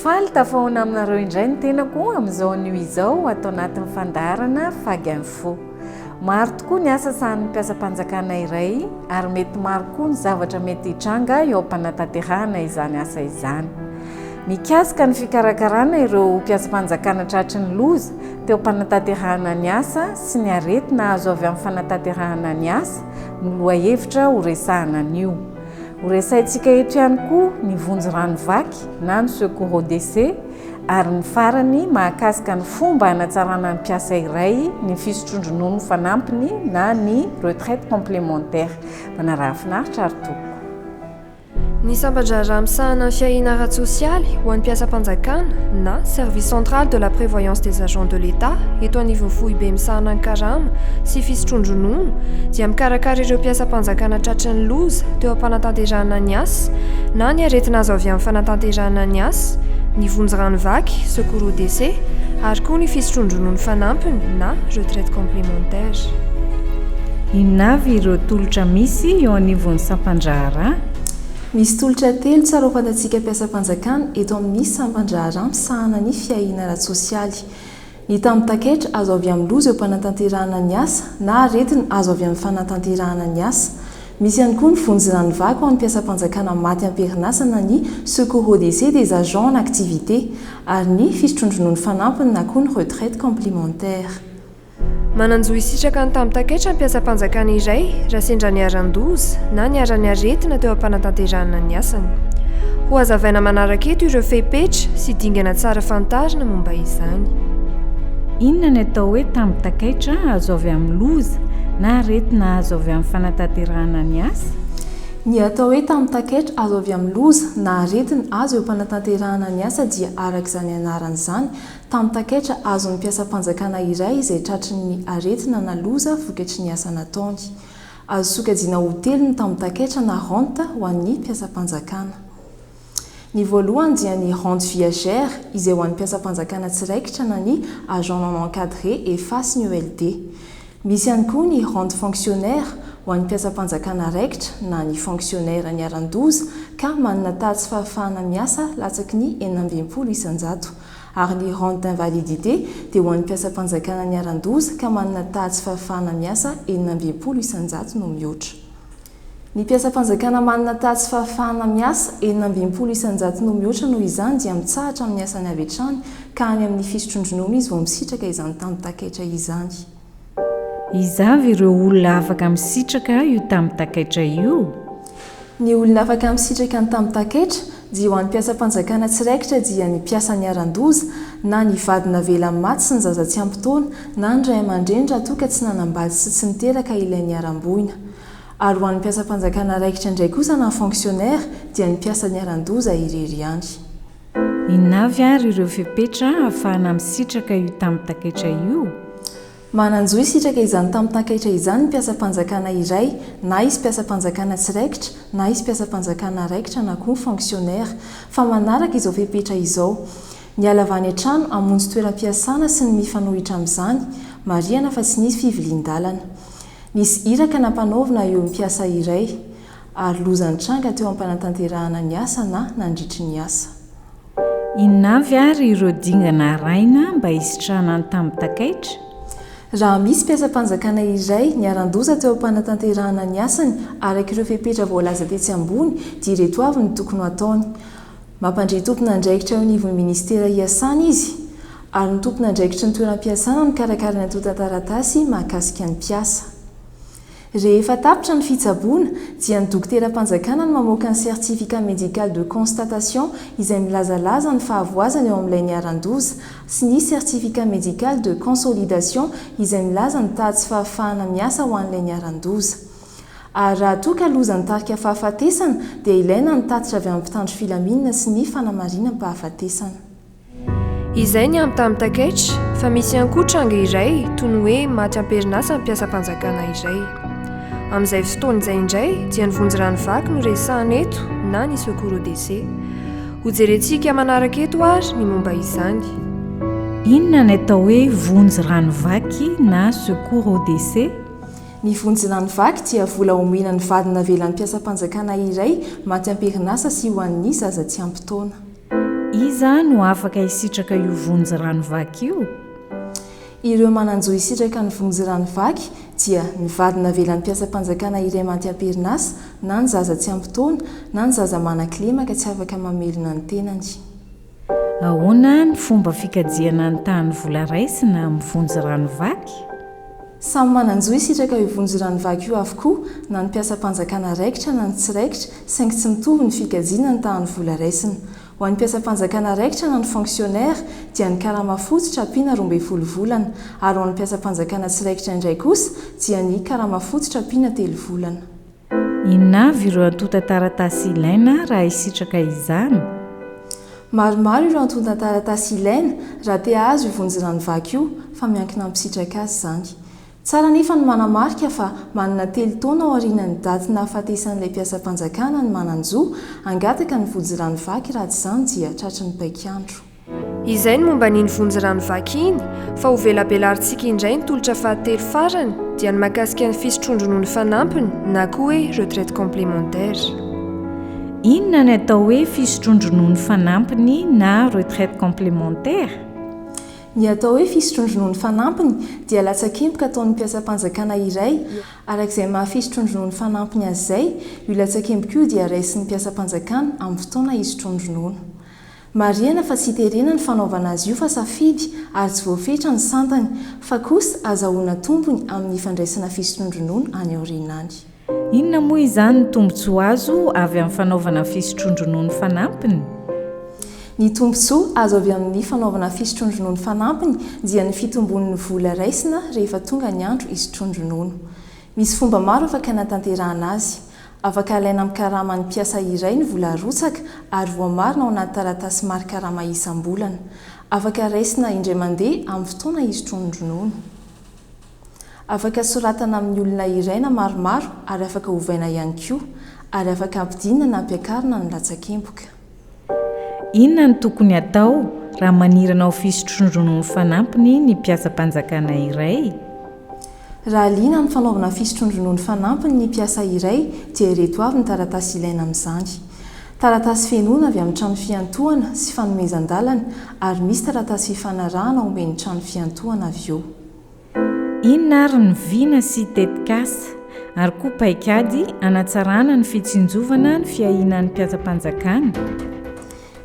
Faly tafahoana aminareo indray ny tenako amin'izao anio izao ato anatin'ny fandaharana Fag Info. Maro tokoa ny asa sahan'ny mpiasam-panjakana iray ary mety maro koa ny zavatra mety hitranga eo am-panatanterahana izany asa izany. mikasika ny fikarakarana ireo mpiasam-panjakana tratry ny loza teo am-panatanterahana ny asa sy ny aretina azo avy amin'ny fanatanterahana ny asa no lohahevitra horesahana anio. Horesahintsika eto ihany koa ny vonjy rano vaky na ny secours aux décès ary ny farany mahakasika ny fomba hanatsarana ny mpiasa iray ny fisotroan-dronono fanampiny na ny retraite complémentaire. Manaraha finaritra ary tompoko. Ny sampan-draharaha misahana ny fiahiana ara-tsosialy ho an'ny mpiasam-panjakana na Service central de la prévoyance des agents de l'Etat eto anivon'ny foibe misahana ny karama sy fisotroan-dronono dia mikarakara ireo mpiasam-panjakana tratry ny loza teo am-panatanterahana ny asa na ny aretina azo avy amin'ny fanatanterahana ny asa, ny vonjy rano vaky, secours aux décès, ary koa ny fisotroan-dronono fanampiny na retraite complémentaire. Inona avy ireo tolotra misy eo anivon'ny sampan-draharaha? Misy tolotra telo tsara ho fantatsika mpiasam-panjakana eto amin'ny sampan-draharaha misahana ny fiahiana ara-tsosialy. Ny tambin-taketra azo avy amin'ny loza eo am-panatanterahana ny asa na aretina azo avy amin'ny fanatanterahana ny asa. Misy ihany koa ny vonjirano vaky ho an'ny mpiasam-panjakana maty am-perinasa na ny secours au décès des agents en activité ary ny fisotroan-dronono fanampiny na koa ny retraite complémentaire. Manan-jo hisitraka ny tambi-takaitra mpiasam-panjakana iray raha sendra niharan-doza na niharan'ny aretina teo am-panatanterahana ny asany. Hohazavaina manaraka eto ireo fepetra sy dingana tsara fantarina momba izany. Inona ny atao hoe tambi-takaitra azo avy amin'ny loza na aretina azo avy amin'ny fanatanterahana ny asa? Ny atao hoe tambi-takaitra azo avy amin'ny loza na aretina azo eo am-panatanterahana ny asa dia araka izany anarany izany, Tamin'ny takaitra azon'ny mpiasam-panjakana iray izay tratry ny aretina na loza vokatry ny asa nataony. Azo sokajiana ho telo ny tambin-takaitra na rente ho an'ny mpiasam-panjakana. Ny voalohany dia ny rente viagère izay ho an'ny mpiasam-panjakana tsy raikitra na ny agent non encadré, efa sy ny ELD. Misy ihany koa ny rente fonctionnaire ho an'ny mpiasam-panjakana raikitra na ny fonctionnaire niharan-doza ka manana taha tsy fahafahana miasa latsaky ny enina amby enimpolo isan-jato. ary ny rente d'invalidité dia ho an'ny mpiasam-panjakana niharan-doza ka manana taha tsy fahafahana miasa enina amby enimpolo isan-jato no mihoatra ny mpiasam-panjakana manana taha tsy fahafahana miasa enina amby enimpolo isan-jato no mihoatra noho izany dia mitsahatra amin'ny asany avy hatrany ka any amin'ny fisotrondronono izy vao misitraka izany tamin-takaitra izany. Iza avy ireo olona afaka misitraka io tambi-takaitra io? Ny olona afaka misitraka ny tambi-takaitra dia ho an'ny mpiasam-panjakana tsy raikitra dia ny mpiasa niharan-doza, na ny vady navelany maty sy ny zaza tsy ampy taona, na ny ray aman-dreny raha toa ka tsy nanambady sy tsy niteraka ilay niharam-boina. Ary ho an'ny mpiasam-panjakana raikitra indray kosa na fonctionnaire dia ny mpiasa niharan-doza irery ihany. Inona avy ary ireo fepetra ahafahana misitraka io tambitan-kaitra io? Manan-jo hisitraka izany tambitan-kaitra izany ny mpiasam-panjakana iray, na izy mpiasam-panjakana tsy raikitra, na izy mpiasam-panjakana raikitra na koa fonctionnaire, fa manaraka izao fepetra izao, Ny halava any an-trano hamonjy toeram-piasana sy ny mifanohitra amin'izany, marihana fa tsy nisy fivilian-dalana. Nisy iraka nampanaovina eo amin'ny mpiasa iray. ary loza nitranga teo am-panatanterahana ny asa na nandritry ny asa. Inona avy ary ireo dingana arahina mba hisitrahana ny tambin-takaitra? Raha misy mpiasam-panjakana iray niharan-doza teo am-panatanterahana ny asany araka ireo fepetra voalaza tetsy ambony dia ireto avy no tokony ho ataony, Mampandre tompon'andraikitra eo anivon'ny minisitera iasana izy ary ny tompon'andraikitry ny toeram-piasana mikarakara ny antontan-taratasy mahakasika ny mpiasa. Rehefa tapitra ny fitsaboana, dia ny dokoteram-panjakana no mamoaka ny Certificat Médical de Constatation izay milazalaza ny fahavoazana eo amin'ilay niharan-doza, sy ny Certificat Médical de Consolidation izay milaza ny taha tsy fahafahana miasa ho an'ilay niharan-doza. Ary raha toa ka loza ny tarika fahafatesana, dia ilaina ny tatitra avy amin'ny mpitandro filaminana sy ny fanamarinam-pahafatesana. Izay ny ampy tamin'ny takaitra fa misy ihany koa tranga iray toy ny hoe maty am-perinasa ny mpiasam-panjakana iray. Amin'izay fotoana izay indray dia ny vonjy rano vaky no resahina eto na ny secours au décès. Hojerentsika manaraka eto ary ny momba izany. Inona ny atao hoe vonjy rano vaky na secours au décès? Ny vonjy rano vaky dia vola homena ny vady navelan'ny mpiasam-panjakana iray maty am-perinasa sy ho an'ny zaza tsy ampy taona. Iza no afaka hisitraka io vonjy rano vaky io? Ireo manan-jo hisitraka ny vonjy rano vaky dia ny vady navelan'ny mpiasam-panjakana iray maty am-perinasa, na ny zaza tsy ampy taona, na ny zaza manan-kilema ka tsy afaka mamelona ny tenany. Ahoana ny fomba fikajiana ny tahan'ny vola raisina amin'ny vonjy rano vaky? Samy manan-jo hisitraka io vonjirano vaky io avokoa na ny mpiasam-panjakana raikitra na ny tsy raikitra saingy tsy mitovy ny fikajiana ny tahan'ny vola raisina. Ho an'ny mpiasam-panjakana raikitra na ny fonctionnaire dia ny karama fototra ampiana roa ambin'ny folo volana ary ho an'ny mpiasam-panjakana tsy raikitra indray kosa dia ny karama fototra ampiana telo volana. Inona avy ireo antontan-taratasy ilaina raha hisitraka izany? Maromaro ireo antontan-taratasy ilaina raha te hahazo io vonjirano vaky io fa miankina amin'ny mpisitraka azy izany. Tsara anefa ny manamarika fa manana telo taona aorianan'ny daty nahafatesan'ilay mpiasam-panjakana ny manan-jo hangataka ny vonjirano vaky raha tsy izany dia tratry ny paik'andro. Izay ny momba an'iny vonjy rano vaky iny, fa ho velabelarintsika indray ny tolotra fahatelo farany dia ny mahakasika ny fisotroan-dronono fanampiny na koa hoe retraite complémentaire. Inona ny atao hoe fisotroan-dronono fanampiny na retraite complémentaire? Ny atao hoe fisotroan-dronono fanampiny dia latsakemboka ataon'ny mpiasam-panjakana iray, araka izay maha fisotroan-dronono fanampiny azy izay, io latsakemboka io dia raisin'ny mpiasam-panjakana amin'ny fotoana hisotroany ronono. Marihana fa tsy iterena ny fanaovana azy io fa safidy ary tsy voafetra ny santany, fa kosa azahoana tombony amin'ny fandraisana fisondronono any aoriana any. Inona moa izany ny tombontsoa azo avy amin'ny fanaovana fisondrondronono fanampiny? Ny tombontsoa azo avy amin'ny fanaovana fisondrondronono fanampiny dia ny fitomboan'ny vola raisina rehefa tonga ny andro hisondrondronono. Misy fomba maro afaka hanatanterahana azy. Afaka alaina amin'ny karaman'ny mpiasa iray ny vola arotsaka ary voamarina ao anaty taratasy mari-karama isam-bolana. Afaka raisina indray mandeha amin'ny fotoana hisotroan'ny ronono. Afaka soratana amin'ny olona iray na maromaro ary afaka ovaina ihany koa, ary afaka ampidinina na ampiakarina ny latsakemboka. Inona no tokony hatao raha manirana ho fisotroronon'ny fanampiny ny mpiasam-panjakana iray? Raha liana amin'ny fanaovana fisotroronon'ny fanampiny ny mpiasa iray dia ireto avy ny taratasy ilaina amin'izany. Taratasy fenoina avy amin'ny trano fiantohana sy fanomezan-dalana ary misy taratasy fifanarahana omen'ny trano fiantohana avy eo. Inona ary ny vina sy tetikasa ary koa paikady hanatsarana ny fitsinjovana ny fiahiana ny mpiasam-panjakana?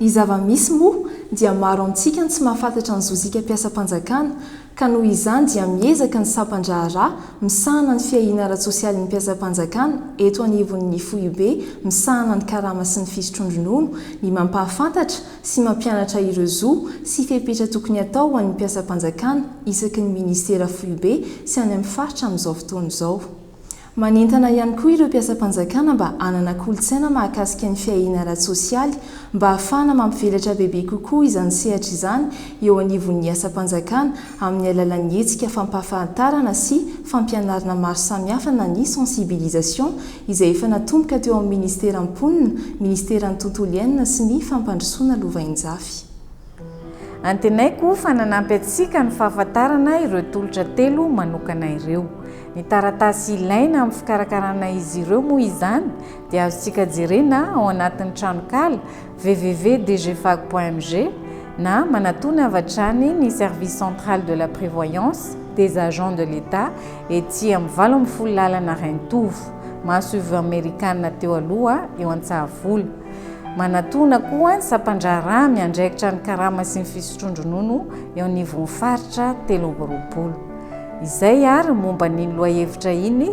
Ny zava-misy moa dia maro amintsika no tsy mahafantatra ny zozika mpiasam-panjakana ka noho izany dia miezaka ny sampan-draharaha misahana ny fiahiana ara-tsosialin'ny mpiasam-panjakana eto anivon'ny Foibe misahana ny karama sy ny fisotroan-dronono ny mampahafantatra sy mampianatra ireo zo sy fepetra tokony hatao ho an'ny mpiasam-panjakana isaky ny minisitera foibe sy any amin'ny faritra amin'izao fotoana izao. Manentana ihany koa ireo mpiasam-panjakana mba hanana kolontsaina mahakasika ny fiahiana ara-tsosialy mba hahafahana mampivelatra bebe kokoa izany sehatra izany eo anivon'ny asam-panjakana amin'ny alalan'ny hetsika fampahafantarana sy fampianarana maro samihafa na ny sensibilisation izay efa natomboka teo amin'ny Ministeran'ny Mponina, Ministeran'ny Tontolo Iainana sy ny Fampandrosoana Lovainjafy. Antenaiko fa nanampy antsika ny fahafantarana ireo tolotra telo manokana ireo. Ny taratasy ilaina amin'ny fikarakarana izy ireo moa izany dia azontsika jerena ao anatin'ny tranonkala www.dgfag.mg na manatona avy hatrany ny Service Central de la Prévoyance des Agents de l'Etat ety amin'ny valo ambin'ny folo lalana Rainitovo, masoivoho amerikana teo aloha eo Antsahavola. Manatona koa ny sampandraharaha miandraikitra ny karama sy ny fisotroan-dronono eo anivon'ny faritra telo amby roapolo. Izay ary momba an'iny lohahevitra iny.